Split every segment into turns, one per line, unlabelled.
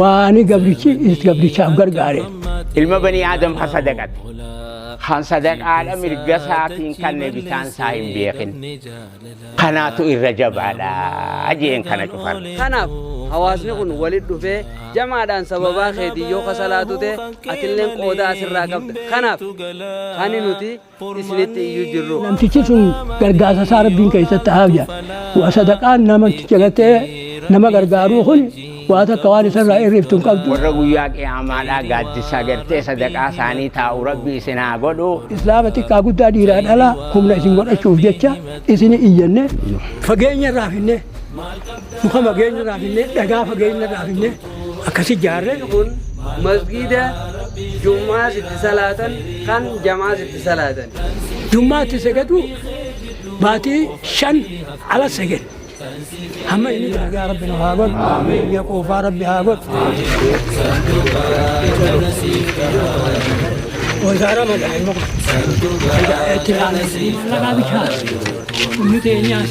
Waan gabrichi is gabrichaaf gargaare. Ilma banii
Aadam ka sadaqate. Kan sadaqaadha mirga isaatiin kanne bitaan isaa hin beekin. Kanaatu irra jabaadha jeen kana cufan. Kanaaf
hawaasni kun walit dhufee jamaadhaan sababaa keetiin yoo ka salaatu ta'e atilleen qooda asirraa qabda. Kanaaf kani nuti isinitti iyyuu jirru. namtichi sun
gargaarsa isaa rabbiin keessatti haa hojjatu. Waa sadaqaan namticha gartee nama gargaaruu kun waa takka waan isarraa hir'iftu hin qabdu. warra guyyaa qiyaamaadhaa
gaaddisa gartee sadaqaa isaanii taa'u rabbi isin haa godhu. Islaama xiqqaa
guddaa dhiiraa dhalaa humna isin godhachuuf jecha isin iyyanne. fageenya irraa finne muka fageenya irraa finne dhagaa fageenya irraa finne akkasi ijaarre kun
masgiida jum'aas itti salaatan kan jamaas itti salaatan. Jum'aa itti
sagadu baatii shan ala sagad. Hamma inni dalagaa rabbi nu haa godhu. Biyya quufaa rabbi haa godhu. Wazaara magaalaa itti laalee mallaqaa bichaa. Inni teenyaas.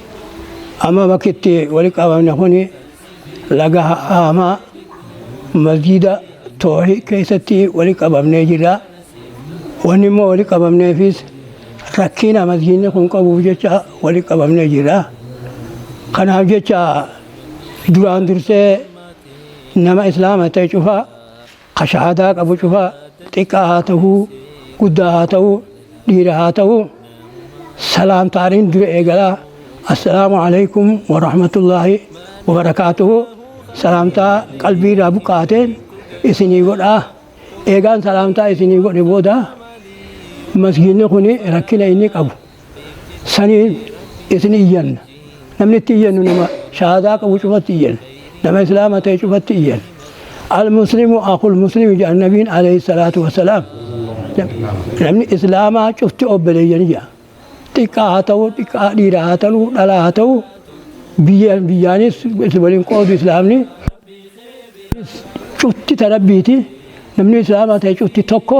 Amma bakki itti wali qabamne kun laga haamaa masjiida toohii keessatti wali qabamnee jirra. Wanni immoo wali qabamneefis rakkina masjiidni kun qabuuf jecha wali qabamnee jirra. Kanaaf jecha duraan dursee nama islaama ta'e cufaa Ka shahaadaa qabu cufa, xiqqaa haa tahuu, guddaa haa tahuu, dhiira haa tahuu, salaamtaanin dura eegala. Assalaamu aleykum wa rahmatullaahi wa barakaatuhu. Salaamtaa qalbii irraa buqqaateen isinii godha. Eegaan salaamtaa isinii godhe booda, masgiidni kuni rakkina inni qabu, saniin isin iyyanna namni itti iyyannu nama shahaadaa qabu cufatti iyyanna nama islaama ta'e cufatti iyyanna almuslimu akul muslimi jedhan nabiin alayhi salaatu wasalaam namni islaamaa cufti obboleeyyan jedha xiqqaa haa ta'u xiqqaa dhiiraa haa ta'u dhalaa haa ta'u biyyaan biyyaanis itti waliin qoodu islaamni cufti tarabbiiti namni islaamaa ta'e cufti tokko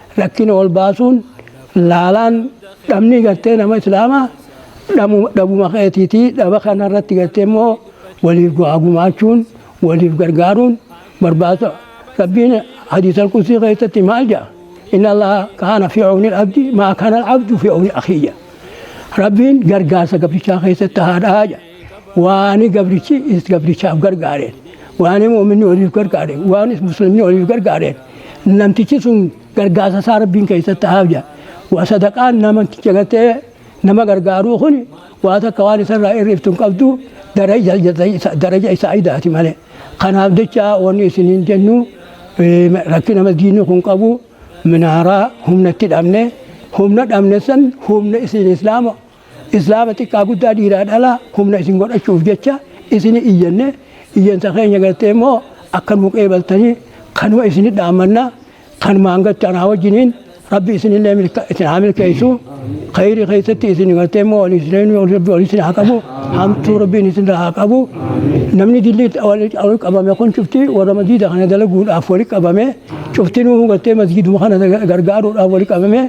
rakkina wal baasuun laalaan dhabni gartee nama islaamaa dhabuma keetiitii dhaba kana irratti gartee immoo waliif du'aa gumaachuun waliif gargaaruun barbaada rabbiin hadiisal qudsii keessatti maal jedha inna allaha kaana fi cawni abdi maa kaana abdu fi cawni akiyya rabbiin gargaarsa gabrichaa keessatti haadhaa jedha waani gabrichi is gabrichaaf gargaareen waani mu'minni waliif gargaareen waanis muslimni waliif gargaareen namtichi sun gargaarsa isaa rabbiin keessatti ta'aaf jedha. Waa sadaqaan namticha gartee nama gargaaruu kun waa takka waan isarraa irreeftu hin qabdu daraja isaa idaati malee. Kanaaf jecha wanni isiniin jennu rakkina madiinni kun qabu minaaraa humnatti dhabne humna dhabne san humna isin islaama Islaama xiqqaa guddaa dhiiraa dhalaa humna isin godhachuuf jecha isini iyyanne iyyansa keenya gartee immoo akka nuu qeebaltanii kanuma isini dhaammanna kanumaan gartee anaa wajjiniin rabbi isinillee milka isin haa milkeessu khayri keessatti isin gartee immoo waliin isin rabbi waliin isin haa qabu hamtuu rabbiin isin haa qabu namni dilli waliin qabame kun cufti warra masjiida kana dalaguudhaaf waliin qabame cufti nuu gartee masjiiduma kana gargaaruudhaaf waliin qabame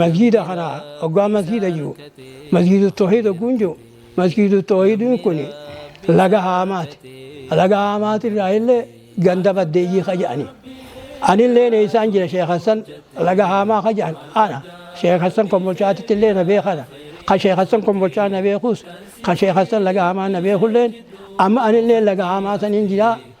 Masjiida kana hoggaa masjiida jiru masjiidu toohiid hogguun jiru masjiidu toohiidiin kun laga haamaati. Laga haamaati irraa illee ganda baddeeyyii ka jedhani. Anillee eessaan jira Sheekh Hassan laga haamaa ka jedhan ana. Sheekh Hassan kombolchaatitti illee na beekana. Ka Sheekh Hassan kombolchaa na beekus ka Sheekh Hassan laga haamaa na beekulleen amma anillee laga haamaa saniin jira.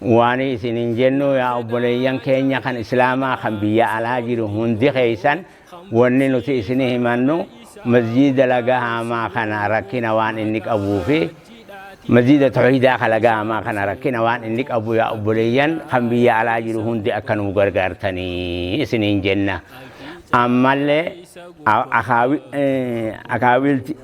Waani isinin jennuu yaa obboleeyyan keenya kan islaamaa kan biyya alaa jiru hundi keessan wanni nuti isini himannu masjiida laga haamaa kana rakkina waan inni qabuu fi masjiida tawhiidaa kan laga haamaa kana rakkina waan inni qabu yaa obboleeyyan kan biyya alaa jiru hundi akka nuu gargaartanii isiniin jenna ammallee akaawiilti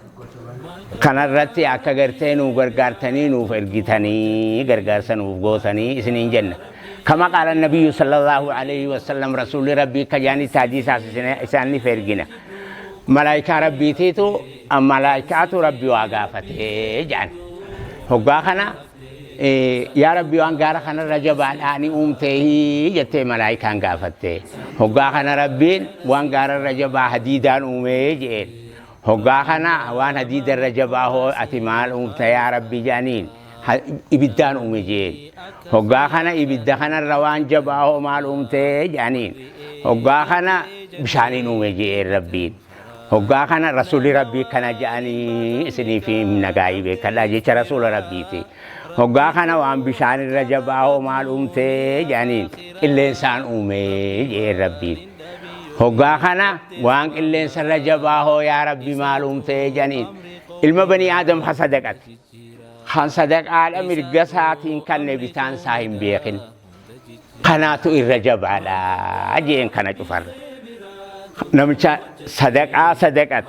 kanarratti akka gartee nuu gargaartanii nuuf ergitanii gargaarsa nuuf gootanii isiniin jenna. Kama qaala nabiyyu sallallahu alaihi wasallam rasuulli rabbii akka jaanitti hadiisaas isaaniif ergina. Malaayikaa rabbiitiitu malaayikaatu rabbi waa gaafatee jedhan. Hoggaa kana yaa rabbi waan gaara kanarra jabaadhaa ni uumtee jettee malaayikaan gaafatte. Hoggaa kana rabbiin waan gaararra jabaa hadiidaan uumee jedheen. Hoggaa kana waan hadiida irra jabaa hoo ati maal uumta yaa Rabbi jedhaniin ha- ibiddaan uume jeen. Hoggaa kana ibidda kanarra waan jabaa hoo maal uumte jedhaniin. Hoggaa kana bishaaniin uume jeen Rabbiin. Hoggaa kana rasuulli Rabbii kana jedhanii isiniif himna gaa'ii beekadhaa jecha rasuula Rabbiiti. Hoggaa kana waan bishaan irra jabaa hoo maal uumtee jedhaniin qilleensaan uumee jedheen rabbiin. Hoggaa kana waan qilleensa irra jabaa hoo yaa rabbi maal uumtee jedhaniin ilma banii aadam ha sadaqate. Kan sadaqaadha mirga isaatiin kanne bitaan isaa hin beekin. kanaatu irra jabaadha jeen kana cufarra namicha sadaqaa sadaqat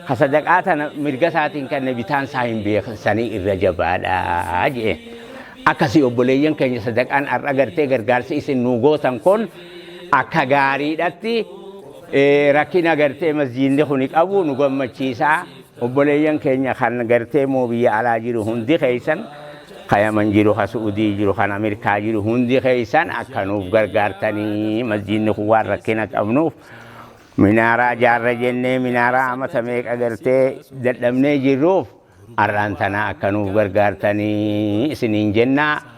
ka sadaqaa tana mirga isaatiin kenne bitaan isaa hin beeksanii irra jabaadha jeen akkasii obboleeyyan keenya sadaqaan har'a gartee gargaarsi isin nuu gootan kun akka gaariidhatti eh, rakkina gartee masjiinni kuni qabu nu gammachiisaa Obboleeyyan keenya kan gartee moo biyya alaa jiru hundi keessan ka yaman jiru ka su'udii jiru kan amirkaa jiru hundi keessan akka nuuf gargaartanii masjiidni kun waan rakkina qabnuuf minaaraa jaarra jennee minaaraa amata meeqa gartee dadhabnee jirruuf arraan tanaa akka nuuf gargaartanii isiniin jennaa.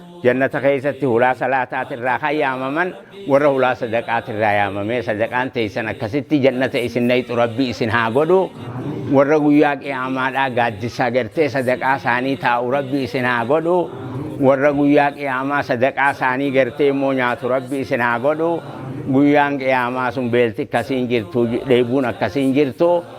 Jannata keessatti hulaa salaataatirraa kan yaamaman warra hulaa sadaqaatirraa yaamamee sadaqaan teessan akkasitti jannata isin nayxu rabbi isin haa godhu warra guyyaa qiyaamaadhaa gaaddisa gartee sadaqaa isaanii taa'u rabbi isin haa godhu warra guyyaa qiyaamaa sadaqaa isaanii gartee immoo nyaatu rabbi isin haa godhu guyyaan qiyaamaa sun beelti akkasiin jirtu dheebuun akkasiin jirtu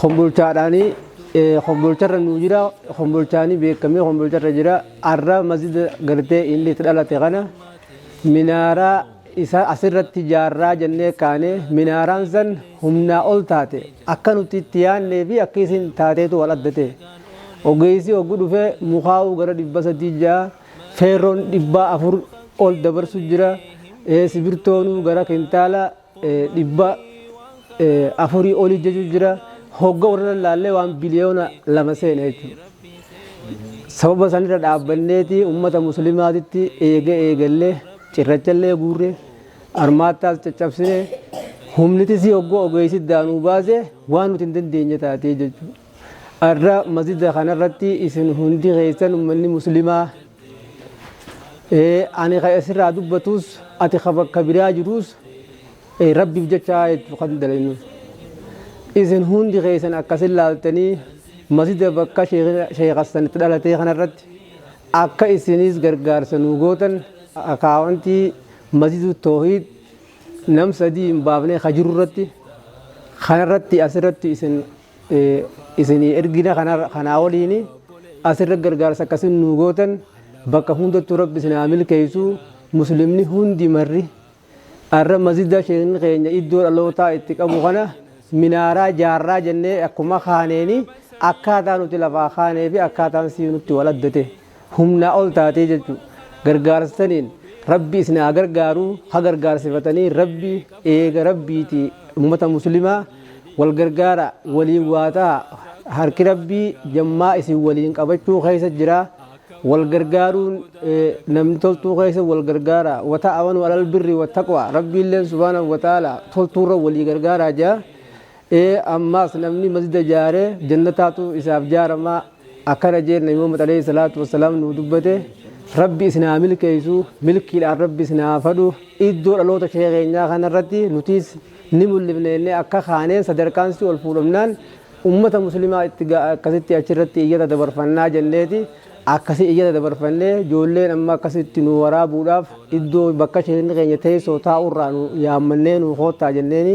Kombolchaadhaani kombolcharra nuu jira kombolchaani beekamee kombolcharra jira arra masjida gartee inni itti dhalate kana minaaraa isa asirratti jaarraa jennee kaane minaaraan san humnaa ol taate akka nuti itti yaannee fi akka isin taateetu wal adda ta'e ogeessi oggu dhufee mukaa'uu gara dhibba sadii ja'a feerroon dhibbaa afur ol dabarsu jira sibirtoonuu gara kintaala dhibba afurii olii jechuun jira hogga warra lallaallee waan biliyoona lama seena jechuudha. Sababa sanirra dhaabbanneeti uummata musliimaatitti eega eegallee cirrachallee guurre armaattaas caccabsine humnitis hoggoo ogeessi daanuu baase waan nuti hin dandeenye taatee jechuudha. Arra masjida kanarratti isin hundi keessan uummanni musliimaa Ani ka asirraa dubbatuus ati ka bakka biraa jiruus rabbiif jecha jechuun kan dalaynu. Isin hundi keessan akkasin laaltanii masjida bakka sheekh Hassan itti dhalatee kanarratti akka isinis gargaarsa nuu gootan akaawwantii masjidu toohiid nam sadii hin baafnee ka jiru irratti kanarratti asirratti isin isinii ergina kanaa oliin asirra gargaarsa akkasin nuu gootan bakka hundattuu rabbi isin haa milkeessu muslimni hundi marri arra masjida sheekni keenya iddoo dhalootaa itti qabu kana minaaraa jaarraa jennee akkuma kaaneeni akkaataa nuti lafaa kaanee fi akkaataan sii nutti wal adda ta'e. humnaa ol taatee jechuu gargaarsa saniin rabbi isin haa gargaaru ha gargaarsifatanii rabbi eega rabbiiti ummata muslimaa wal gargaara waliin waa ta'a harki rabbii jammaa isin waliin qabachuu keessa jira wal gargaaruun eh, namni toltuu keessa wal gargaara wata'awanu alal birri wattaqwa rabbiilleen subhaanahu wataala toltuurra walii gargaaraa jaa ee ammaas namni masjida jaaree jannataatu isaaf jaaramaa Akkana jeenna yoo Muhammad alayhi salaatu wassalaam nuu dubbate Rabbi isin haa milkeessu milkiidhaan Rabbi isin haa fadhu iddoo dhaloota sheekha keenyaa kanarratti nutiis ni mul'ifne jennee akka kaaneen sadarkaan si ol fuudhamnaan ummata muslimaa itti ga'a akkasitti achirratti iyyata dabarfannaa jenneeti akkasi iyyata dabarfannee ijoolleen amma akkasitti nu waraabuudhaaf iddoo bakka sheekni keenya teessoo taa'urraa nu yaammannee nu koottaa jenneeni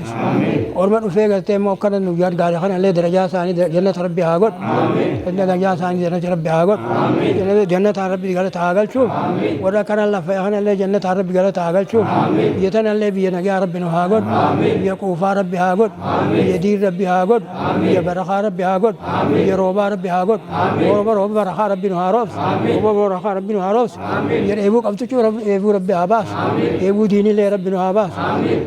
Orma dhufee gartee immoo akkana nu gargaare kana illee darajaa isaanii jannata rabbi haa godhu. Darajaa isaanii jannata rabbi haa godhu. Jannataan rabbi galata haa galchu. Warra kana lafa kana illee jannataan rabbi galata haa galchu. Biyya tana illee biyya nagaa rabbi nu haa godhu. Biyya quufaa rabbi haa godhu. Biyya diin rabbi haa godhu. Biyya barakaa rabbi haa godhu. Biyya roobaa rabbi haa godhu. Oromo rooba barakaa rabbi nu haa roobsu. Oromo barakaa rabbi nu haa roobsu. Biyya dheebuu qabdu cuu rabbi dheebuu rabbi haa baasu. Dheebuu diinilee rabbi nu haa baasu.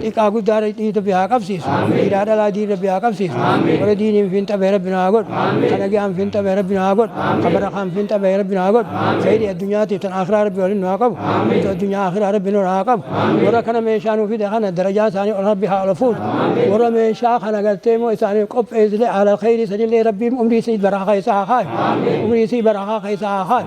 Xiqqaa guddaa diin rabbi haa qabsiisu. Dhiiraa dhalaa diin rabbi haa qabsiisu. Warra diiniin fiinxa bahe rabbi nu haa godhu. Ka nagayaan fiinxa bahe rabbi nu haa godhu. Ka barakaan fiinxa bahe rabbi nu haa godhu. Kheeyrii addunyaatiif tan aakhiraa rabbi waliin nu haa qabu. Hamtuu addunyaa aakhiraa rabbi nurraa haa qabu. Warra kana meeshaa nuu fide kana darajaa isaanii ol rabbi haa ol fuudhu. Warra meeshaa kana gartee immoo isaaniif qopheessile ahlal kheeyrii sanillee rabbiin umrii isii barakaa keessa haa kaayu. Umrii isii barakaa keessa haa kaayu.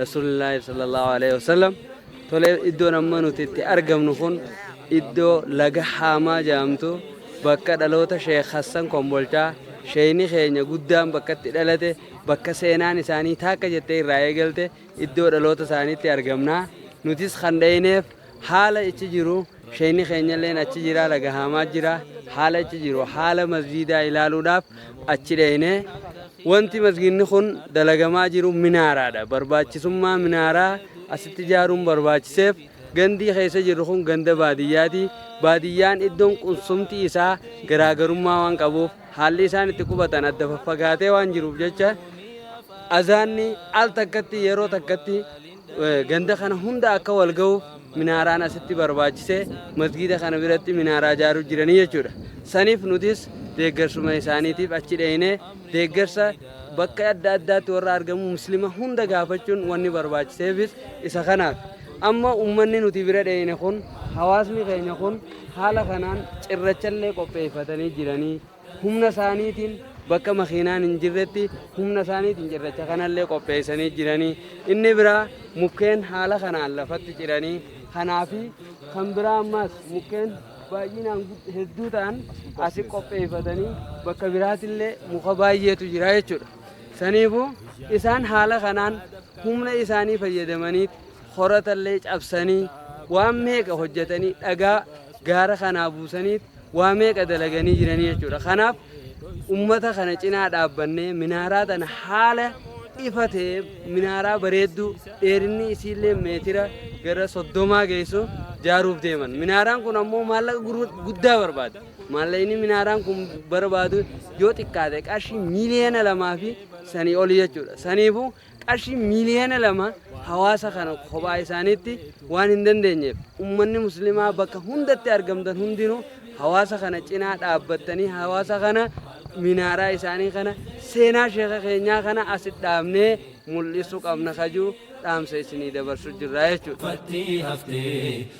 Rasuulillaahi sallallahu aleyhi wasallam tolee iddoon amma nuti itti argamnu kun iddoo laga haamaa jedhamtu bakka dhaloota sheekh hassan kombolchaa sheeyni keenya guddaan bakka itti dhalate bakka seenaan isaanii taakka jettee irraa eegalte iddoo dhaloota isaaniitti argamna nutis kan dheyneef Haala ichi jiru sheeyni keenyalleen achi jira dhagahaamaa jira haala ichi jiru haala masjiidaa ilaaluudhaaf achi dheyne wanti masgiidni kun dalagamaa jiru minaaraadha barbaachisummaa minaaraa asitti ijaaruun barbaachiseef gandii keessa jirru kun ganda baadiyyaati baadiyyaan iddoon qunsumti isaa garaagarummaa waan qabuuf haalli isaan itti qubatan adda faffagaatee waan jiruuf jecha azaanni al takkatti yeroo takkatti Ganda kana hunda akka wal gahu minaaraan asitti barbaachise masgiida kana biratti minaaraa ijaaruu jiranii jechuudha. Saniif nutis deeggarsuma isaaniitiif achi dheeyne deeggarsa bakka adda addaatti warra argamu muslima hunda gaafachuun wanni barbaachiseefis isa kanaaf. Amma ummanni nuti bira dheeyne kun hawaasni keenya kun haala kanaan cirrachallee qopheeffatanii jiranii. humna isaaniitiin bakka makiinaan hin jirretti humna isaaniitiin cirracha kanallee qopheessanii jiranii inni biraa mukkeen haala kanaan lafatti ciranii kanaa fi kan biraa ammaas mukkeen baay'inaan gud- hedduu ta'an asi qopheeffatanii bakka biraatillee muka baay'eetu jira jechuudha. Saniifuu isaan haala kanaan humna isaanii fayyadamanii horatallee cabsanii waan meeqa hojjetanii dhagaa gaara kanaa buusanii waa meeqa dalaganii jiranii jechuudha. Kanaaf ummata kana cinaa dhaabbannee minaaraa tana haala ifa ta'e minaaraa bareedduu dheerinni isiillee meetira gara soddomaa geessu jaaruuf deeman. Minaaraan kun ammoo maallaqa gurru- guddaa barbaada. Maallaqni minaaraan kun barbaadu yoo xiqqaate qarshii miiliyoona lamaa fi sanii oli jechuudha. Saniifuu qarshii miiliyoona lama hawaasa kana kophaa isaaniitti waan hin dandeenyeef ummanni muslimaa bakka hundatti argamtan hundinuu hawaasa kana cinaa dhaabbattanii hawaasa kana minaaraa isaanii kana seenaa sheeka keenyaa kana asi dhaabnee mul'isuu qabna kajuu dhaamsa isinii dabarsu jirra jechuudha. Fattii haftee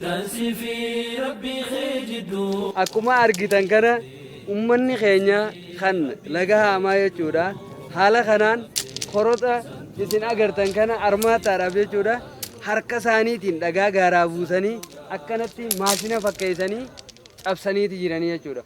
Tan sifi rabbii kee jidduu. Akkuma argitan
kana ummanni keenya kan laga haamaa jechuudha. Haala kanaan koroxa isin agartan kana armaattaadhaaf jechuudha. Harka isaaniitiin dhagaa gaaraa buusanii akkanatti maashina fakkeessanii cabsaniiti jiranii jechuudha.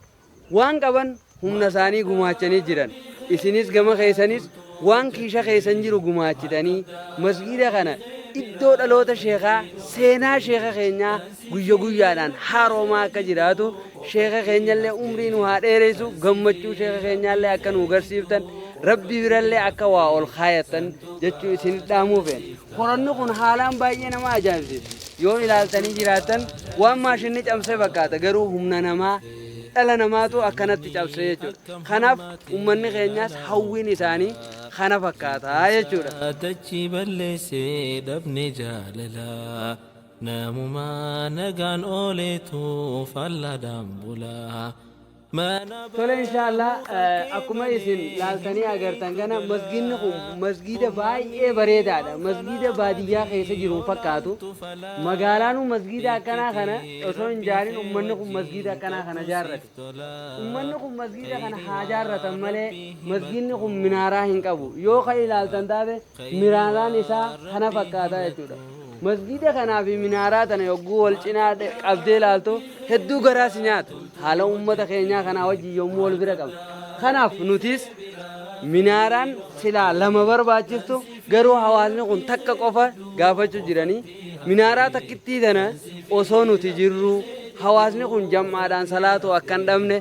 Waan qaban humna isaanii gumaachanii jiran. Isinis gama keessanis waan kiisha keessan jiru gumaachitanii masgiida kana iddoo dhaloota sheekaa seenaa sheeka keenyaa guyya guyyaadhaan haaroomaa akka jiraatu sheeka keenyallee umrii nu haa dheeressu gammachuu sheeka keenyaallee akka nu garsiiftan rabbi birallee akka waa ol kaayattan jechuu isin dhaamuu feena. Qoranni kun haalaan baay'ee nama ajaa'ibsiisa. Yoo ilaaltanii jiraattan waan maashinni cabse fakkaata garuu humna namaa dhala namaatu akkanatti cabse jechuudha. Kanaaf ummanni keenyaas hawwiin isaanii kana fakkaata jechuudha. Tachi
balleessee dhabne jaalala namumaa nagaan ooleetu fallaadhaan bula. Mana
Tole inshaallaa eh, akkuma isin laaltanii agartan kana masgiidni kun masgiida baay'ee bareedaadha. Masgiida baadiyyaa keessa jiru hin fakkaatu. Magaalaanuu masgiida akkanaa kana osoo hin jaarin ummanni kun masgiida akkanaa kana jaarrate. Ummanni kun masgiida kana haa jaarratan malee masgiidni kun minaaraa hin qabu. Yoo kan ilaaltan taate miraaraan isaa kana fakkaata jechuudha. Masgiida kanaa fi minaaraa tana yogguu wal cinaa dhe- qabdee ilaaltu hedduu garaa si nyaata. Haala ummata keenyaa kanaa wajjin yommuu wal bira qabdu. Kanaaf nutis minaaraan silaa lama barbaachiftu garuu hawaasni kun takka qofa gaafachuu jiranii Minaaraa takkittii tana osoo nuti jirruu hawaasni kun jam'aadhaan salaatu akka hin dhabne,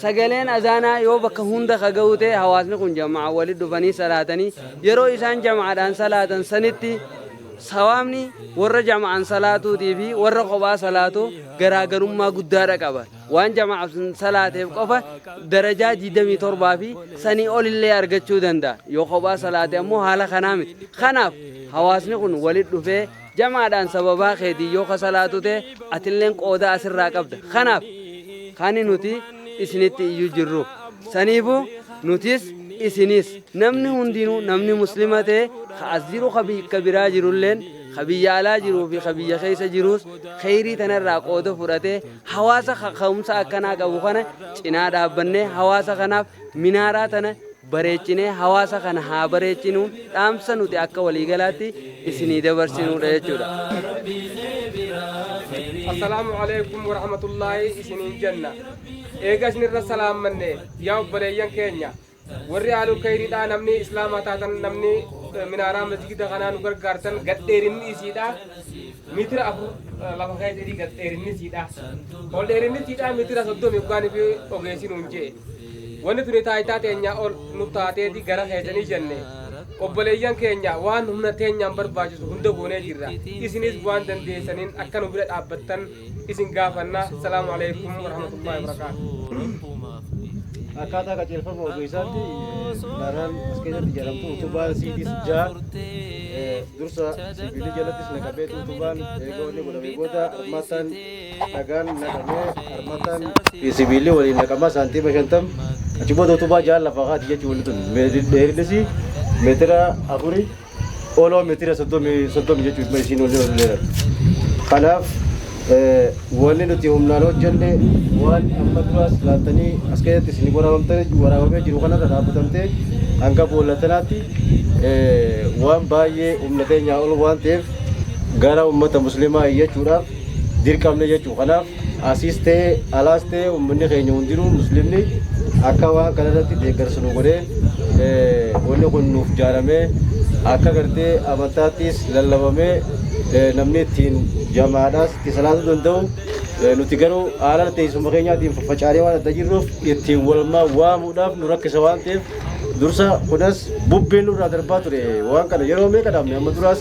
sagaleen azaanaa yoo bakka hunda ka ga'u ta'e hawaasni kun jam'aan walitti dhufanii salaatanii yeroo isaan jam'aadhaan salaatan sanitti sawaabni warra jam'aan salaatuutii fi warra kophaa salaatuu garaagarummaa guddaadha qaba. Waan jama'aaf salaateef qofa darajaa 27 fi sanii olillee argachuu danda'a. Yoo kophaa salaate ammoo haala kanaa miti. Kanaaf hawaasni kun walit dhufee jamaadhaan sababaa keetiin yoo ka salaatu ta'e atilleen qooda asirraa qabda. Kanaaf kani nuti isinitti iyyuu jirru. Saniifuu nutis isinis namni hundinuu namni muslima ta'e ka as jiru ka bikka biraa jirulleen ka biyya alaa jiruu fi ka biyya keessa jiruus kheyrii tanarraa qooda fudhatee Hawaasa kaka'umsa akkanaa qabu kana cinaa dhaabbannee hawaasa kanaaf minaaraa tana bareechinee hawaasa kana haa bareechinuu dhaamsa nuti akka waliigalaatti isinii dabarsinuudha jechuudha.
Assalaamu alaikum warahmatullaahi isiniin jenna. Eega isinirra salaammanne yaa obboleeyyan keenya Warri aalul khayriidhaa namni islaamaa taatan namni minaaraa masjida kanaa nu gargaartan gadheerinni isiidhaa mitira afur lafa keessa jedhii gadheerinni isiidhaa ol dheerinni isiidhaa mitira soddomi dhugaan fi ogeessi nuun jee wanni tuni taayitaa teenyaa ol nu taateeti gara keessanii jenne obboleeyyan keenya waan humna teenyaan barbaachisu hunda goonee jirra isinis waan dandeessaniin akka nu bira dhaabbattan isin gaafanna salaamu aleykum warahmatullahi wabarakaatu akkaataa qajeelfama
ogeessaatti laaraan as keessatti jedhamtu utubaan siidiis jaa dursa sibiilii jalattis naqabeetu utubaan eega wanni godhamee booda armataan dhagaan naqamee armataan sibiilii waliin naqamaa saantiima shantam achi booda utubaa jaa lafa kaati jechuu wanni tun dheerinisi meetira afuri oloo meetira soddomii soddomi jechuun dhuma isiin olii ol dheeratu. Kanaaf eh, wanni nuti humnaan hojjenne waan amma duraas laaltanii as keessatti isin waraabamtanii waraabamee jiru kanarra dhaabbatamtee hanga boolla tanaatti eh, waan baay'ee humna keenyaa ol waan ta'eef gara uummata musliimaa iyyachuudhaaf dirqamne jechuudha. Kanaaf asiis ta'e alaas ta'e uummanni keenya hundinuu musliimni akka waan kana irratti deeggarsa nu godhee wanni kun nuuf jaaramee akka gartee amantaattis lallabamee namni ittiin jamaadhaas itti salaatuu danda'u nuti garuu haala teessuma keenyaatiin faffacaanee waan adda jirruuf ittiin walmaa waamuudhaaf nu rakkisa waan ta'eef dursa kunas bubbeen nurraa darbaa ture waan kana yeroo meeqa dhaabne amma duraas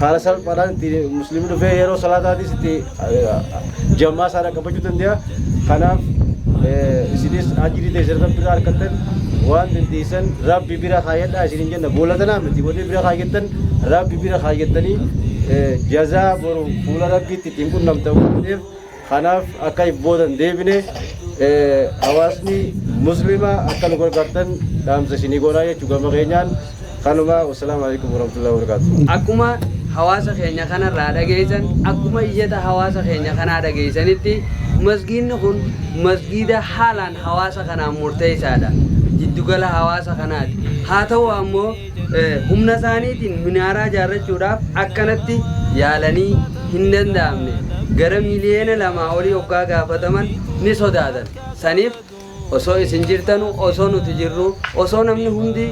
haala salphaadhaan itti musliimni dhufee yeroo salaataatis itti jammaa isaa dhaqqabachuu danda'a. Kanaaf isinis ajirii teessan rabbi irraa argattan waan dandeessan rabbi bira kaayyadhaa isin hin jenna boolla tanaa miti wanni bira kaayyattan rabbi bira kaayyattanii jazaa boru fuula rabbiitti ittiin qunnamtan waan ta'eef Kanaaf akka if booda hin deebine hawaasni muslimaa akka nu gargaartan dhaamsa isinii goonaa jechuu gama keenyaan kanuma wassalaamu alaikum warahmatullahi wabarakatuh. Akkuma
hawaasa keenya kanarraa dhageessan akkuma iyyata hawaasa keenya kanaa dhageessanitti masgiidni kun masgiida haalaan hawaasa kanaaf murteessaadha. Jiddugala hawaasa kanaati. Haa ta'u ammoo humnasaaniitiin minaaraa ijaarrachuudhaaf akkanatti yaalanii hindanda'amne. Gara miliyoona lamaa olii oggaa gaafataman ni sodaatan. Saniif osoo isin jirtanuu, osoo nuti jirruu, osoo namni hundi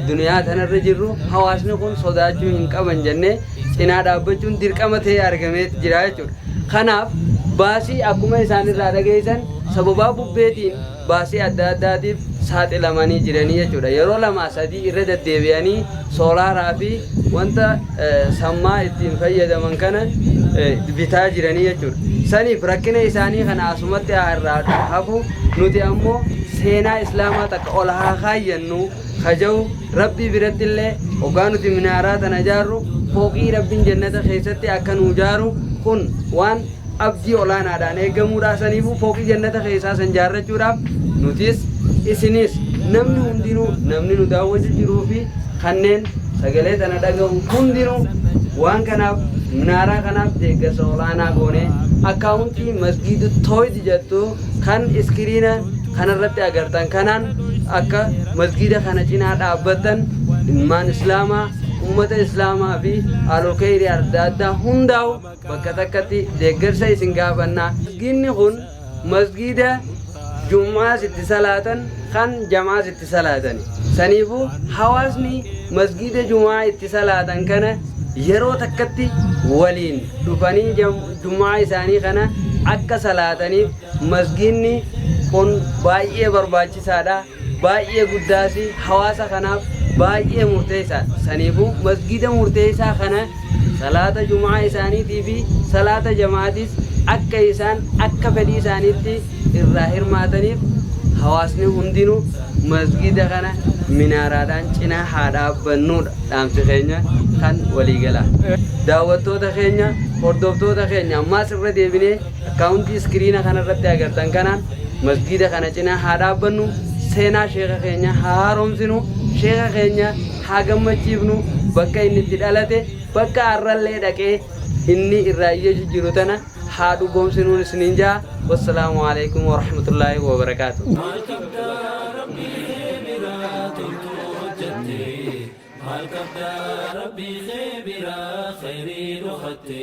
duniyaa tanarra jirru hawaasni kun sodaachuu hinqaban jennee cinaa dhaabbachuun dirqama ta'ee argameet jira jechuudha. Kanaaf baasii akkuma isaan irraa dhageessan sababaa bubbeetiin baasii adda addaatiif saaxilamanii jiranii jechuudha. Yeroo lamaa sadii irra deddeebi'anii soolaaraa fi wanta sammaa ittiin fayyadaman kana bitaa jiranii jechuudha. Saniif rakkina isaanii kana asumatti haa irraa hafu nuti ammoo seenaa islaamaa takka ol haa kaayyannu kaja'u rabbii biratti illee hoggaa nuti minaaraa tana jaarru fooqii rabbiin jannata keessatti akka nuu jaaru kun waan abdii olaanaadhaan eegamuudha. Saniifuu fooqii jannata keessaa san jaarrachuudhaaf nutis isinis namni hundinuu namni nu daawwatu jiruu fi kanneen sagalee tana dhaga'u hundinuu waan kanaaf minaaraa kanaaf deeggarsa olaanaa goone akkaawuntii masgiida tooyid jettu kan iskiriina kanarratti agartan kanaan akka masgiida kana cinaa dhaabbattan ilmaan islaamaa ummata islaamaa fi alokeyri adda addaa hundaa'u Bakka takkatti deeggarsa isin gaafanna. Masgiidni kun masgiida jum'aas itti salaatan kan jam'aas itti salaatani. Saniifu hawaasni masgiida jum'aa itti salaatan kana yeroo takkatti waliin dhufanii jum'aa isaanii kana akka salaataniif masgiidni kun baay'ee barbaachisaadha. baay'ee guddaa fi hawaasa kanaaf baay'ee murteessaadha. Saniifuu masgiida murteessaa kana salaata jum'aa isaaniitii fi salaata jama'aatiis akka isaan akka fedhii isaaniitti irraa hirmaataniif hawaasni hundinuu masgiida kana minaaraadhaan cinaa haa dhaabbannuudha dhaamsi keenya kan waliigalaa. Daawwattoota keenya, hordoftoota keenya ammaas irra deebinee Akkaawuntii iskiriina kana irratti agartan kanaan masgiida kana cinaa haa dhaabbannu, seenaa sheeka keenyaa haa haaromsinu, sheeka keenya haa gammachiifnu, bakka inni itti dhalate, bakka har'allee dhaqee inni irraa iyyachu jiru tana haa dhugoomsinuun isiniin ja'a. Wassalaamu aleykum warahmatullaahi wabarakaatuh. Maal qabda rabbii kee biraa toltu hojjatte Maal qabda
rabbii kee biraa khayrii dhokatte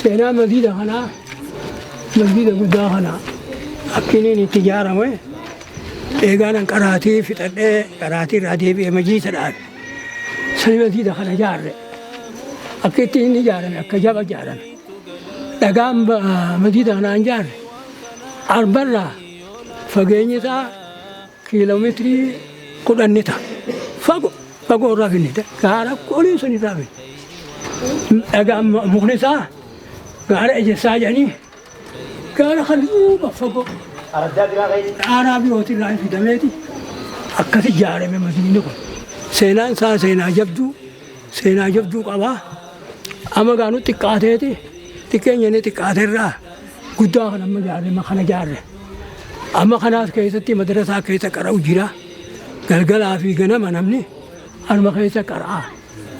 Seenaa masjiida kanaa, Masjiida guddaa kana akki inni itti ijaarame eegaanan qaraatii fixadhee qaraatii irraa deebi'ee majiisa dhaabe. Sani masjiida kana ijaarre. Akki itti inni ijaarame akka jaba ijaarame. Dhagaan ba- masjiida kanaa hin ijaarre. Arbarraa fageenyi isaa Kiilomeetirii kudhan ni ta'a. Fagoo fagoo irraa finne gaara olii sun irraa finne. Dhagaa mukni isaa gaara ejessaa jedhanii gaara kan duuba fagoo dhaaraa birooti irraa fidameeti akkasi ijaarame masjiidni kun. Seenaan isaa seenaa jabduu seenaa jabduu qabaa. Amma gaanu xiqqaateeti xiqqeenyanii xiqqaateerraa. guddaa kan amma jaarre ma kana jaarre amma kanaas keessatti madrasaa keessa qara'u jira galgalaa fi ganama namni anuma keessa qara'a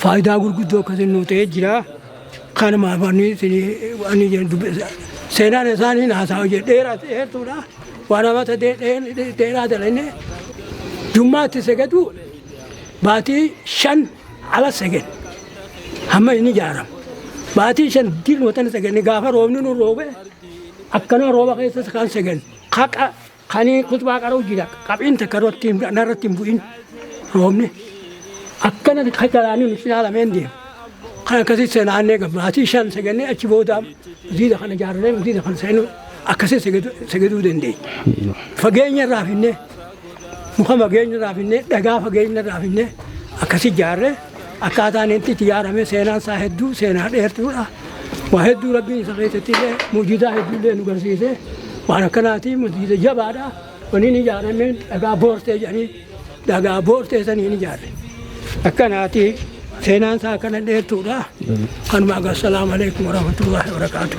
faayidaa gurguddoo akkasiin nuu ta'ee jira kanumaaf ani isinii ani jedhu dubbisa seenaan isaanii naasaa jedhe dheeraa dheertuudha waan amata dheeraa dalannee jummaatti segaduu baatii shan Ala segen hamma inni ijaaramu baatii shan diin watana segenni gaafa roobni nu roobe akkanuma rooba keessas kan segen haqa kanii kutbaa qara'u jira qabiin takka irratti narratti hin bu'in roobni akkana ka jalaanii nuti ilaalamee hin deemu. Kan akkasii senaannee gabbaatii shan segennee achi booda ziida kana ijaarree ziida kana seenuu akkasii segeduu dandeenya. Fageenya irraa finnee. Muka fageenya irraa finnee dhagaa fageenya irraa finnee akkasi ijaarree akkaataan inni itti ijaarame seenaan isaa hedduu seenaa dheertuudha. Waa hedduu rabbiin isa keessatti illee mujidaa hedduu illee nu garsiisee waan akkanaati mujiida jabaadha. Waniin ijaarame dhagaa boortee jedhanii dhagaa boortee saniin ijaarre. Akkanaati seenaan isaa akkana dheertuudha. Kanuma agar salaamu alaikum warahmatullahi wabarakatuh.